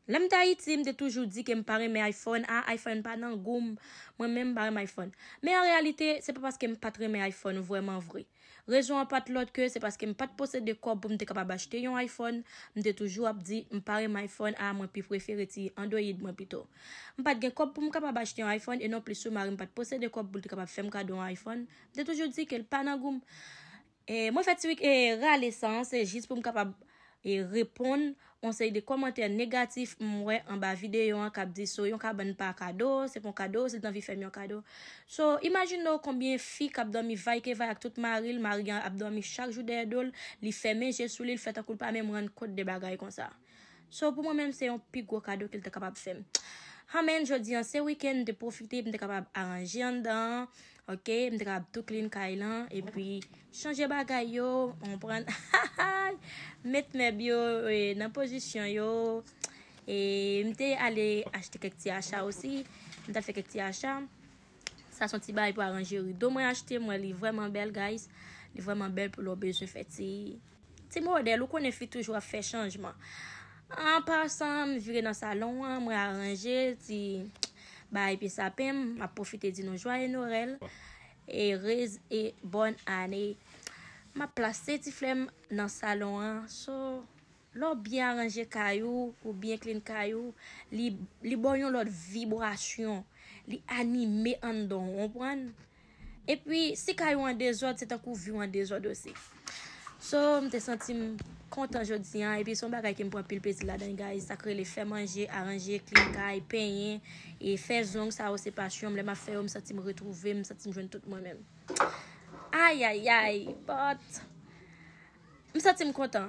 Lè m t Ayiti, m te toujou di ke m pa renmen iPhone, ah iPhone pa nan gou m, mwen menm m pa renmen iPhone. Men an reyalite, se pa paske m pa t renmen iPhone vrèman vre. Rezon an pa t lòt ke se paske m pa t posede kòb pou m te kapab achte yon iPhone, m te toujou ap di m pa renmen iPhone ah mwen pi prefere ti Android mwen pito. M pa t gen kòb pou m kapab achte yon iPhone e non plis tou mari m pa t posede kòb pou l te kapab fè m kado yon iPhone, m te toujou di ke l pa nan gou m. E mwen fè ti e rale san an se jis pou m kapab e reponn on seri de kòmantè negatif m wè anba videyo an k ap di so yon kabann pa kado, se pa yon kado, si l t anvi fè m yon kado. So, imajine w konbyen fi k ap dòmi vaykevay ak tout mari l, mari an ap dòmi chak jou dèyè do l, li fèmen je sou li, l fè tankou l pa menm rann kont de bagay konsa. So pou mwen menm se yon pi gwo kado ke l te kapab fè m. Amen, jodi an se weekend m te pwofite m te kapab aranje anndan an ok, m te kapab tou clean kay lan epi chanje bagay yo ou konprann hahay met mèb yo nan pozisyon yo e m te ale achte kèk ti acha osi, m t al fè kèk ti acha sa son ti bagay pou aranje rido mwen achte m wè li vrèman bèl guys li vrèman bèl pou lè w bezwen fè ti. Ti modèl ou konnen fi toujou ap fè chanjman. An pasan, m vire nan salon an, mwen aranje ti bagay pye sapen m, m ap pwofite di nou jwaye Norèl, e rez e bòn ane. M ap plase ti flè m nan salon an, so lè w byen aranje kay ou, ou byen klin kay ou, li ba w yon lòt vibrasyon, li anime anndan w, w konprann? Epi si kay ou an dezòd se tankou vi w an dezòd osi. So m te santi m kontan jodi an epi son bagay ke m pran anpil plezi ladan guys sak rele fè manje, aranje, klin kay, penyen e fè zong sa yo se pasyon m lè map fè yo m santi m retwouve m, m santi m jwenn tout mwen menm. Ayayay but m santi m kontan.